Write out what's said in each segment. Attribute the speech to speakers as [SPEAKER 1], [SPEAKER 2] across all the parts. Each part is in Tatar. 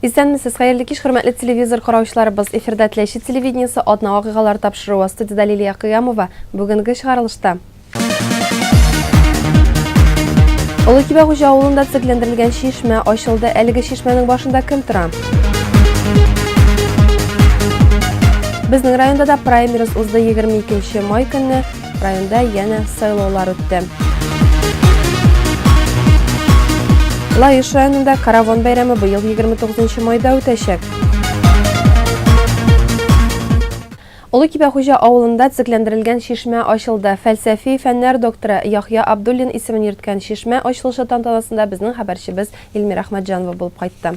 [SPEAKER 1] Исәнмесез, хәерле кич, хөрмәтле телевизор караучыларыбыз. Эфирда Теләче телевидениесе атна вакыйгалары тапшыруы. Студиядә Лилия Кыямова. Бүгенге чыгарылышта. Олы Кибә хуҗа авылында төзекләндерелгән чишмә ачылды. Әлеге чишмәнең башында кем тора? Безнең районда да праймерис узды 22 май көнне. Районда янә сайлаулар үтте. Лаеш районында караван бәйрәме быел 29 майда үтәчәк. Олы Кибәхуҗа авылында төзекләндерелгән чишмә ачылды. Фәлсәфи фәннәр докторы Яхья Абдуллин исемен йөрткән чишмә ачылышы тантанасында безнең хәбәрчебез Илмир Әхмәтҗанова булып кайтты.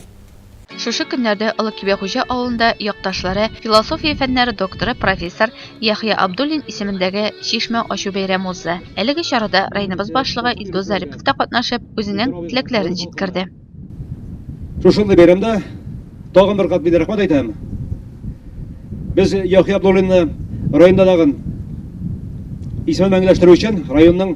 [SPEAKER 1] Шушы
[SPEAKER 2] көннәрдә Олы Кибәхуҗа авылында якташлары, философия фәннәре докторы, профессор Яхъя Абдуллин исемендәге чишмә ачу бәйрәме узды. Әлеге чарада районыбыз башлыгы Илдус Зарипов та катнашып, үзенең теләкләрен җиткерде.
[SPEAKER 3] Шушындый бәйрәмдә тагын бер кат мин рәхмәт әйтәм. Без Яхъя Абдуллинны районда тагын исемен мәңгеләштерү өчен районның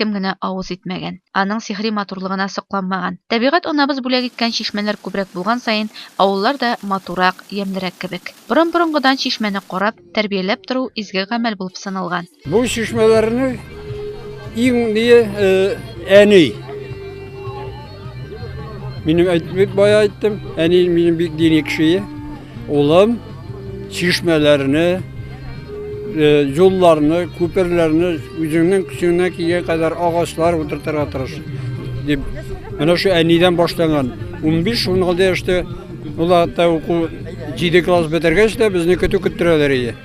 [SPEAKER 2] кем генә авыз итмәгән, аның сихри матурлыгына сокланмаган. Табигать анабыз бүләк иткән чишмәләр күбрәк булган саен, авыллар да матуррак, ямьлерәк кебек. Борын-борынгыдан чишмәне карап, тәрбияләп тору изге гамәл булып саналган. Бу чишмәләрнең
[SPEAKER 4] иң мие әни. Минем әйтмик бая әйттем, әни минем бик дини кеше. Улым чишмәләрне, юлларны, э, күперләрне үзеңнең көчеңнән килгән кадәр агачлар утыртырга тырыш дип. Менә шу әнидән башланган. 15-16 яшьтә ул хәтта уку 7 класс бетергәч тә безне көтү көттерәләр иде.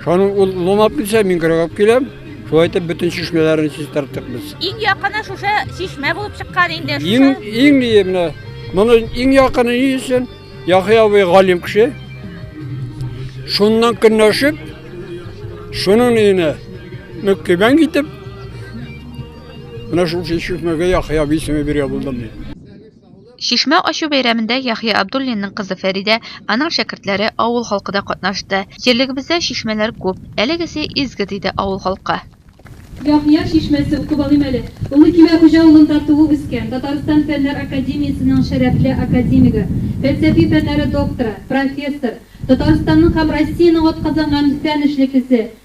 [SPEAKER 4] Шуны ул ломап килсә, мин кыргап киләм. Шулай итеп бөтен чишмәләрне чистарттык без. Иң якыны шушы
[SPEAKER 5] чишмә булып чыккан инде. Иң иң ние
[SPEAKER 4] менә. Моны иң якыны ни өчен? Яхи абый галим кеше. Шуннан көнләшеп, шуның өенә мөккибән китеп, менә шул чишмәгә Яхи абый исеме бирә булдым мин.
[SPEAKER 2] Чишмә ачу бәйрәмендә Яхъя Абдуллинның кызы Фәридә, аның шәкертләре, авыл халкы да катнашты. Җирлегебездә чишмәләр күп. Әлегесе изге, диде авыл халкы. Яхъя
[SPEAKER 6] чишмәсе, укып алыйм әле. Улы Кимә хуҗа авылында туып-үскән, Татарстан Фәннәр академиясенең шәрәфле академигы, фәлсәфи фәннәре докторы, профессор, Татарстанның һәм Россиянең атказанган фән эшлеклесе,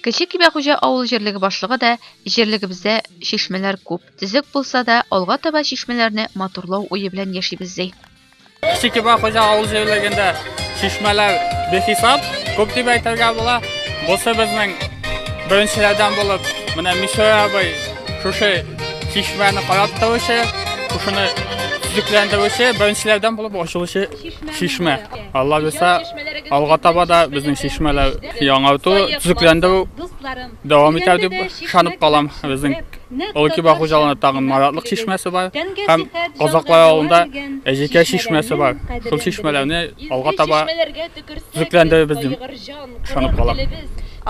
[SPEAKER 7] Кече Кибәхуҗа
[SPEAKER 2] авыл җирлеге башлыгы да җирлегебездә чишмәләр күп, төзек булса да, алга таба чишмәләрне матурлау уе белән яшибез ди. Кече Кибәхуҗа
[SPEAKER 8] авыл җирлегендә чишмәләр бихисап, күп дип әйтергә була. Бусы безнең беренчеләрдән булып, менә Мишә абый шушы чишмәне карап торучы, шушыны төзекләндерүче, беренчеләрдән булып ачылучы Чишмә. Алла бирсә, алга таба да безнең чишмәләр яңарту, төзекләндерү дәвам итәр дип ышанып калам. Безнең Олыкиба хуҗалыгында тагын Маратлык чишмәсе бар һәм Казаклар авылында Әҗекә чишмәсе бар. Шул чишмәләрне алга таба төзекләндерербез дим. ышанып калам.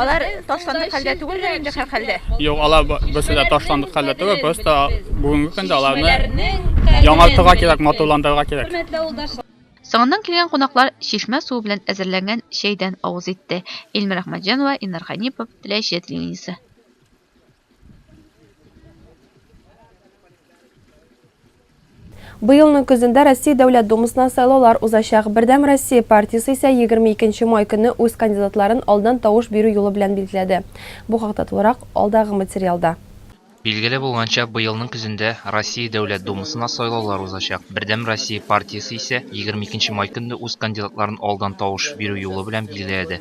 [SPEAKER 8] Алар
[SPEAKER 2] ташландык хәлдә түгелдер инде һәрхәлдә. Юк, алар берсе
[SPEAKER 8] дә ташландык хәлдә түгел, просто бүгенге көндә аларны яңартырга кирәк, матурландырырга кирәк. Соңыннан
[SPEAKER 2] килгән кунаклар чишмә суы белән әзерләнгән чәйдән авыз итте. Илмира Әхмәтҗанова, Илнар Хәнипов, Теләче телевидениесе.
[SPEAKER 1] Быелның көзендә Россия Дәүләт Думасына сайлаулар узачак. Бердәм Россия партиясе исә 22 май көнне үз кандидатларын алдан тавыш бирү юлы белән билгеләде. Бу хакта тулырак алдагы материалда. Билгеле
[SPEAKER 9] булганча, быелның көзендә Россия Дәүләт Думасына сайлаулар узачак. Бердәм Россия партиясе исә 22 май көнне үз кандидатларын алдан тавыш бирү юлы белән билгеләде.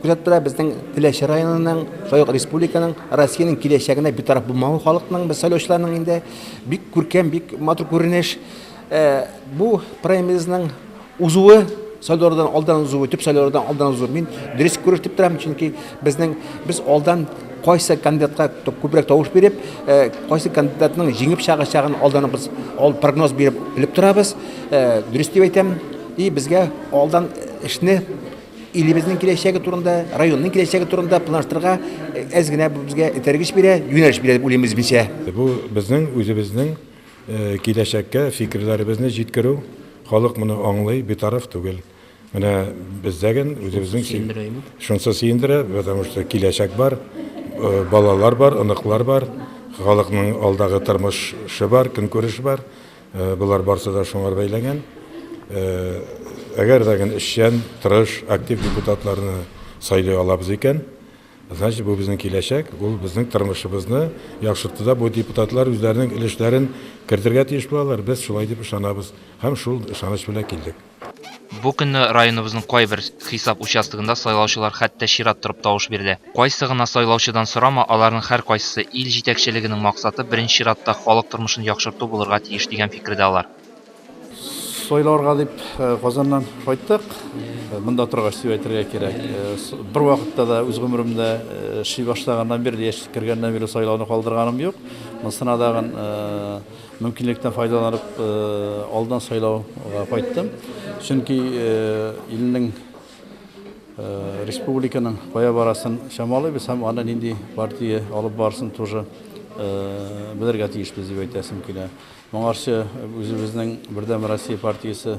[SPEAKER 10] Күзәтеп тора безнең Теләче районының, шулай ук республиканың, Россиянең киләчәгенә битараф булмавы халыкның, без сайлаучыларның инде бик күркәм, бик матур күренеш. Э, бу праймеризның узуы сайлаулардан алдан узуы, төп сайлаулардан алдан узуы мин дөрес күреш дип торам, чөнки безнең без алдан кайсы кандидатка күбрәк тавыш биреп, э, кайсы кандидатның җиңеп чыгачагын алдан без ал прогноз биреп белеп торабыз. Э, дөрес дип әйтәм. И безгә алдан эшне илебезнең киләчәге турында, районның киләчәге турында планлаштырырга э, әз генә безгә этәргеч бирә, юнәлеш бирә дип уйлыйм үзебезчә. Бу безнең
[SPEAKER 11] үзебезнең э, киләчәккә фикерләребезне җиткерү. Халык моны аңлый, битараф түгел. Менә бездә ген үзебезнең шунысы сөендерә, потому что киләчәк бар, э, балалар бар, оныклар бар, халыкның алдагы тормышы бар, көнкүреше бар. Болар барсы да шуңар бәйләнгән. Әгәр дә гел эшчән, тырыш, актив депутатларны сайлый алабыз икән, значит, бу безнең киләчәк, ул безнең тормышыбызны яхшыртуда бу депутатлар үзләренең өлешләрен кертергә тиеш булалар. Без шулай дип ышанабыз һәм шул ышаныч белән килдек. Бу көнне
[SPEAKER 9] районыбызның кайбер хисап участогында сайлаучылар хәтта чират торып тавыш бирде. Кайсы гына сайлаучыдан сорама, аларның һәркайсысы, ил җитәкчелегенең максаты беренче чиратта халык тормышын яхшырту булырга тиеш дигән фикердә алар.
[SPEAKER 12] Сайларга дип Казаннан кайттык. Монда торгач дип әйтергә кирәк. Бервакытта да үз гомеремдә эшли башлаганнан бирле, яшь кергәннән бирле сайлауны калдырганым юк. Монысына тагын Мөмкинлектән файдаланып, алдан сайлауга кайттым. Чөнки илнең, республиканың кая барасын чамалыйбыз һәм аны нинди партия алып барсын тоже белергә тиешбез дип әйтәсем килә. Моңарчы үзебезнең Бердәм Россия партиясе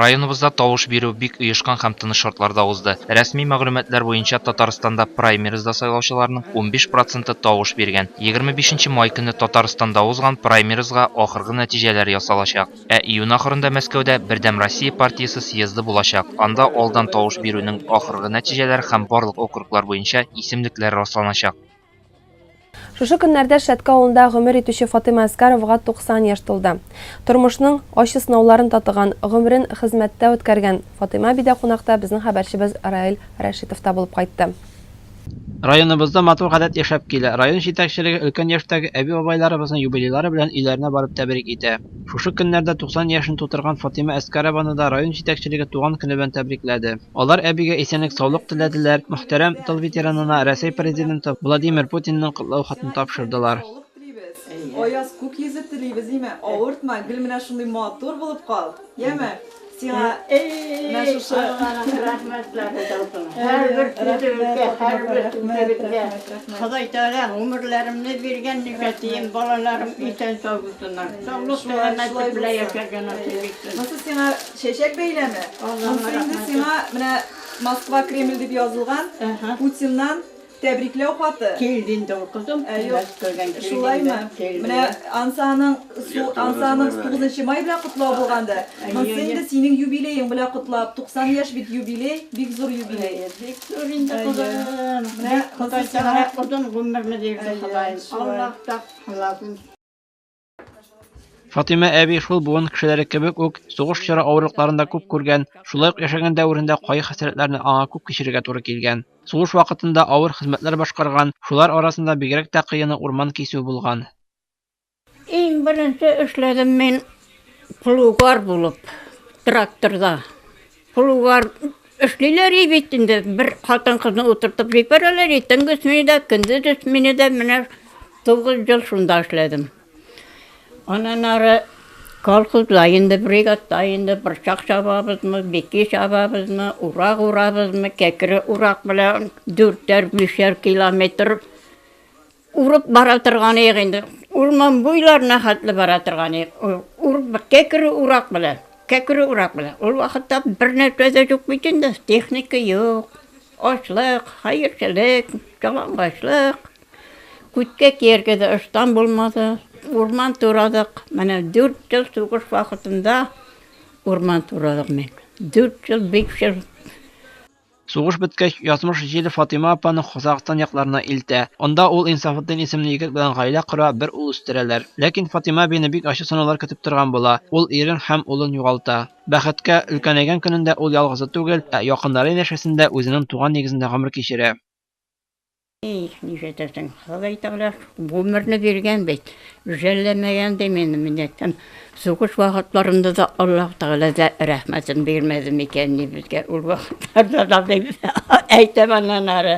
[SPEAKER 9] Районыбызда тавыш бирү бик оешкан һәм тыныч шартларда узды. Рәсми мәгълүматлар буенча, Татарстанда праймеризда сайлаучыларның унбиш проценты тавыш биргән. Егерме бишенче май көнне Татарстанда узган праймеризга ахыргы нәтиҗәләр ясалачак. Ә июнь ахырында Мәскәүдә Бердәм Россия партиясе съезды булачак, анда алдан тавыш бирүнең ахыргы нәтиҗәләре һәм барлык округлар буенча исемлекләр расланачак.
[SPEAKER 1] Шушы көннәрдә Шәтке авылында гомер итүче Фатыйма Әскаровага 90 яшь тулды. Тормышның ачы сынауларын татыган, гомерен хезмәттә үткәргән Фатыйма әби дә кунакта безнең хәбәрчебез Раил Рәшитовта булып кайтты.
[SPEAKER 13] Районыбызда матур гадәт яшәп килә. Район җитәкчелеге өлкән яшьтәге әби-бабайларыбызны юбилейлары белән өйләренә барып тәбрик итә. Шушы көннәрдә 90 яшен тутырган Фатыйма Әскарованы да район җитәкчелеге туган көне белән тәбрикләде. Алар әбигә исәнлек-саулык теләделәр, мөхтәрәм тыл ветеранына Рәсәй Президенты Владимир Путинның котлау хатын тапшырдылар.
[SPEAKER 14] Аяз күк йөзе телибез, имә, авыртма, гел менә шундый матур булып кал, яме! Сиңа менә шушы Алланың рәхмәтләре яусын. Һәрбер көнебезгә, һәрбер көнебезгә Ходай Тәгалә гомерләремне биргән, ничә тиен балаларым исән-сау булсыннар, саулык-сәламәтлек белән яшәргә насыйп итсен. Монысы сиңа Чәчәк
[SPEAKER 15] бәйләме. Монсы инде сиңа менә Москва Кремль дип язылган Путиннан тәбрикләү хаты. Килде инде ул кызым.
[SPEAKER 14] Шулаймы?
[SPEAKER 15] Менә Ансаның Ансаның 9 нчы май белән котлау булганды. Монсы инде синең юбилеең белән котлап. 90 яшь бит юбилей, бик зур юбилей. Бик зур инде
[SPEAKER 14] кызым. Менә Ходай сиңа озын гомерне бирде Ходаем. Аллаһ та халасын.
[SPEAKER 13] Фатыйма әби шул буын кешеләре кебек үк сугыш чоры авырлыкларында күп күргән, шулай ук яшәгән дәверендә кайгы хәсрәтләрне аңа күп кичерергә туры килгән. Сугыш вакытында авыр хезмәтләр башкарган, шулар арасында бигрәк тә кыены урман кисү булган.
[SPEAKER 5] Иң беренче эшләдем мин плугар булып, тракторда. Кулуар эшлиләр и бит инде, бер хатын-кызны утыртып җибәрәләр и төнге сменада, көндез сменада, менә тугыз ел шунда эшләдем. Аннан ары колхозда инде бригадта инде борчак чабабызмы, бики чабабызмы, урак урабызмы, кәкре урак белән дүртәр, бишәр километр Урып бара торганыек инде. Урман буйларына хәтле бара торганыек. Урып, кәкре урак белән. Кәкре урак белән. Ул вакытта бернәрсә дә юк бит инде, техника юк, ачлык, хәерчелек, ялангачлык. Күткә кияргә дә ыштан булмады. Урман турадык. Менә дүрт ел сугыш вакытында урман турадык мин. Дүрт ел, биш ел.
[SPEAKER 13] Сугыш беткәч, язмыш җил Фатыйма апаны Казакъстан якларына илтә. Анда ул Инсафетдин исемле егет белән гаилә кора, бер ул үстерәләр. Ләкин Фатыйма әбине бик ачы сынаулар көтеп торган була, ул ирен һәм улын югалта. Бәхеткә, өлкәнәйгән көнендә ул ялгызы түгел, ә якыннары янәшәсендә үзенең туган нигезендә гомер кичерә. Их,
[SPEAKER 5] нишләтәсең, Ходай тәгалә гомерне биргән бит, жәлләмәгән ди мине, менә кем сугыш вакытларында да Аллаһ тәгалә дә рәхмәтен бирмәде микән ни безгә ул вакытларда да дип әйтәм аннан ары.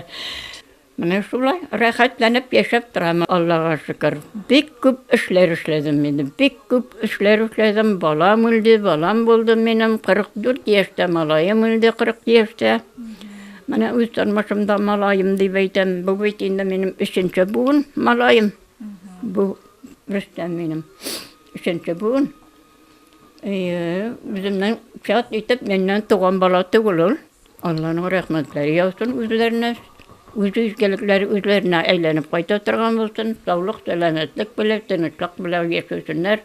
[SPEAKER 5] Менә шулай рәхәтләнеп яшәп торам, Аллага шөкер. Бик күп эшләр эшләдем мин, бик күп эшләр эшләдем, балам үлде, балам булды минем, 44 яшьтә, малаем үлде 40 яшьтә. Менә үз тормышымда малаем дип әйтәм. Бу бит инде минем өченче буын малаем. Бу Рөстәм минем өченче буын. Әйе, үземнең чат итеп миннән туган бала түгел ул. Алланың рәхмәтләре яусын үзләренә. Үз изгелекләре үзләренә әйләнеп кайта торган булсын. Саулык, сәламәтлек белән, тынычлык белән яшәсеннәр.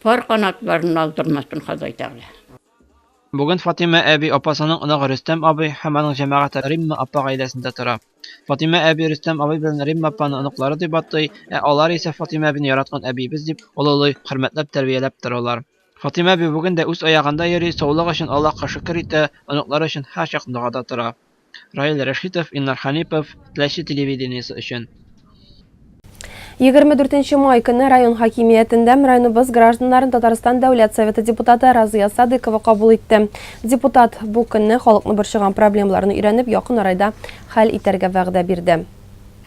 [SPEAKER 5] Пар канатларын алдырмасын Ходай Тәгалә. Бүген
[SPEAKER 13] Фатыйма әби, апасының оныгы Рөстәм абый һәм аның җәмәгате Римма апа гаиләсендә тора. Фатыйма әби Рөстәм абый белән Римма апаны оныклары дип атый, ә алар исә Фатыйма әбине яраткан әбиебез дип олылый, хөрмәтләп тәрбияләп торалар. Фатыйма әби бүген дә үз аягында йөри, саулык өчен Аллаһка шөкер итә, оныклары өчен һәрчак догада тора. Раил Рәшитов, Илнар Ханипов, Теләче телевидениесе өчен. 24
[SPEAKER 1] май көне район хакимиятендә районыбыз гражданнарын Татарстан Дәүләт Советы депутаты Разыя Садыкова кабул итте. Депутат бу көнне халыкны борчыган проблемаларны өйрәнеп, якын арайда хәл итәргә вәгъдә бирде.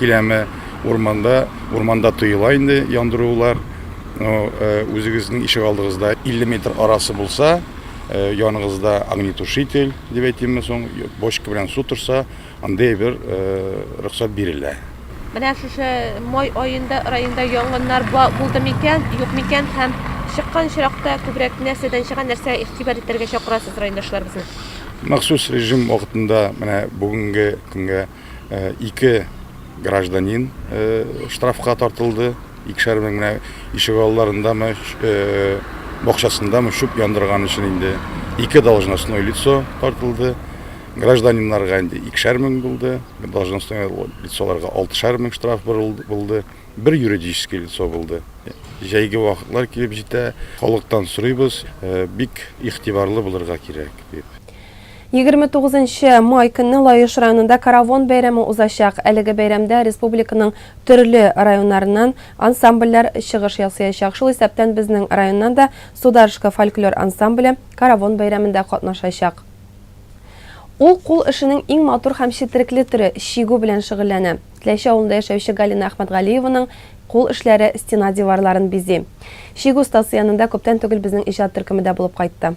[SPEAKER 11] Киләме урманда, урманда тыела инде яндырулар. Но үзегезнең ишегалдыгызда 50 метр арасы булса, яныгызда огнетушитель, дип әйтимме соң, бочка белән су торса, андый бер рөхсәт бирелә. Менә шушы
[SPEAKER 1] май аенда районда янгыннар булды микән, юк микән һәм чыккан очракта күбрәк нәрсәдән чыга, нәрсәгә игътибар итәргә чакырасыз райондашларыбызны? Махсус
[SPEAKER 11] режим вакытында менә бүгенге көнгә ике гражданин штрафка тартылды. Икешәр мең генә ишек алларындамы, бакчасындамы чүп яндырган өчен инде ике должностное лицо тартылды. Гражданиннарга инде икешәр мең булды, должностное лицоларга алтышар мең штраф булды, бер юридический лицо булды. Җәйге вакытлар килеп җитә, халыктан сорыйбыз, бик игътибарлы булырга кирәк дип. Егерме
[SPEAKER 1] тугызынчы май көнне Лаеш районында Каравон бәйрәме узачак. Әлеге бәйрәмдә республиканың төрле районнарыннан ансамбльләр чыгыш ясыячак. Шул исәптән безнең районнан да Сударышка фольклор ансамбле Каравон бәйрәмендә катнашачак. Ул кул эшенең иң матур һәм четерекле төре, чигү белән шөгыльләнә. Теләче авылында яшәүче Галина Әхмәтгалиеваның кул эшләре стена диварларын бизи. Чигү остасы янында күптән түгел безнең иҗат төркеме дә булып кайтты.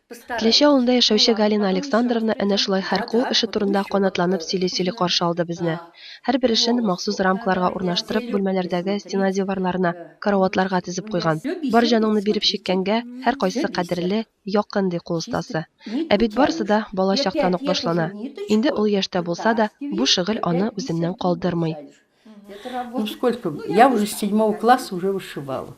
[SPEAKER 1] Тләче авылында яшәүче Галина Александровна әнә шулай һәр кул эше турында канатланып сөйли-сөйли каршы алды безне. Һәрбер эшен махсус рамкаларга урнаштырып, бүлмәләрдәге стена диварларына, караватларга тезеп куйган. Бар җаныңны биреп чиккәнгә, һәркайсы кадерле, якын, ди кул остасы. Ә бит барысы да бала чактан ук башлана. Инде олы яшьтә булса да, бу шөгыль аны үзеннән калдырмый. Ну
[SPEAKER 16] сколько, я уже с седьмого класса уже вышивала.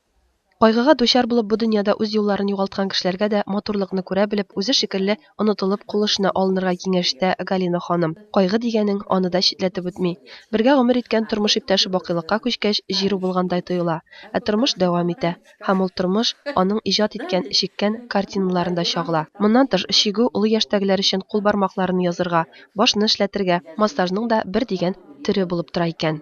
[SPEAKER 1] Кайгыга дучар булып бу дөньяда үз юлларын югалткан кешеләргә дә матурлыкны күрә белеп, үзе шикелле онытылып кул эшенә алынырга киңәш итә Галина ханым. Кайгы дигәнең аны да читләтеп үтми. Бергә гомер иткән тормыш иптәше бакыйлыкка күчкәч, җир убылгандай тоела. Ә тормыш дәвам итә. Һәм ул тормыш аның иҗат иткән, чиккән картиналарын да чагыла. Моннан тыш, чигү олы яшьтәгеләр өчен кул бармакларны язырга, башны эшләтергә, массажның да бер дигән төре булып тора икән.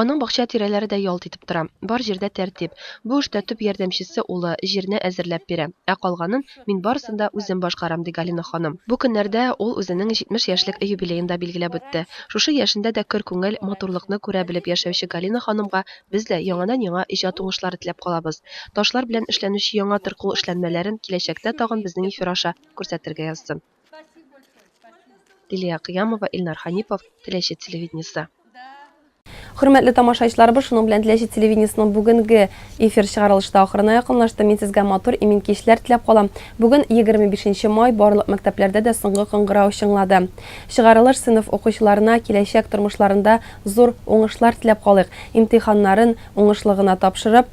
[SPEAKER 16] Аның
[SPEAKER 1] бакча тирәләре дә ялт итеп тора. Бар җирдә тәртип. Бу эштә төп ярдәмчесе улы, җирне әзерләп бирә. Ә калганын мин барысын да үзем башкарам, ди Галина ханым. Бу көннәрдә ул үзенең 70 яшьлек юбилеен да билгеләп үтте. Шушы яшендә дә көр күңел, матурлыкны күрә белеп яшәүче Галина ханымга без дә яңадан-яңа иҗат уңышлары теләп калабыз. Ташлар белән эшләнүче яңа тыр кул эшләнмәләрен киләчәктә тагын безнең эфир аша күрсәтергә язсын. Лилия Кыямова, Илнар Ханипов, Теләче телевидениесе. Хөрмәтле тамашаичларыбыз, шуның белән Теләче телевидениесенең бүгенге эфир чыгарылышы да ахырына якынлашты. Мин сезгә матур, имин кичләр теләп калам. Бүген 25 май, барлык мәктәпләрдә дә соңгы кыңгырау чыңлады. Чыгарылыш сыйныф укучыларына киләчәк тормышларында зур уңышлар теләп калыйк. Имтиханнарын уңышлы гына тапшырып,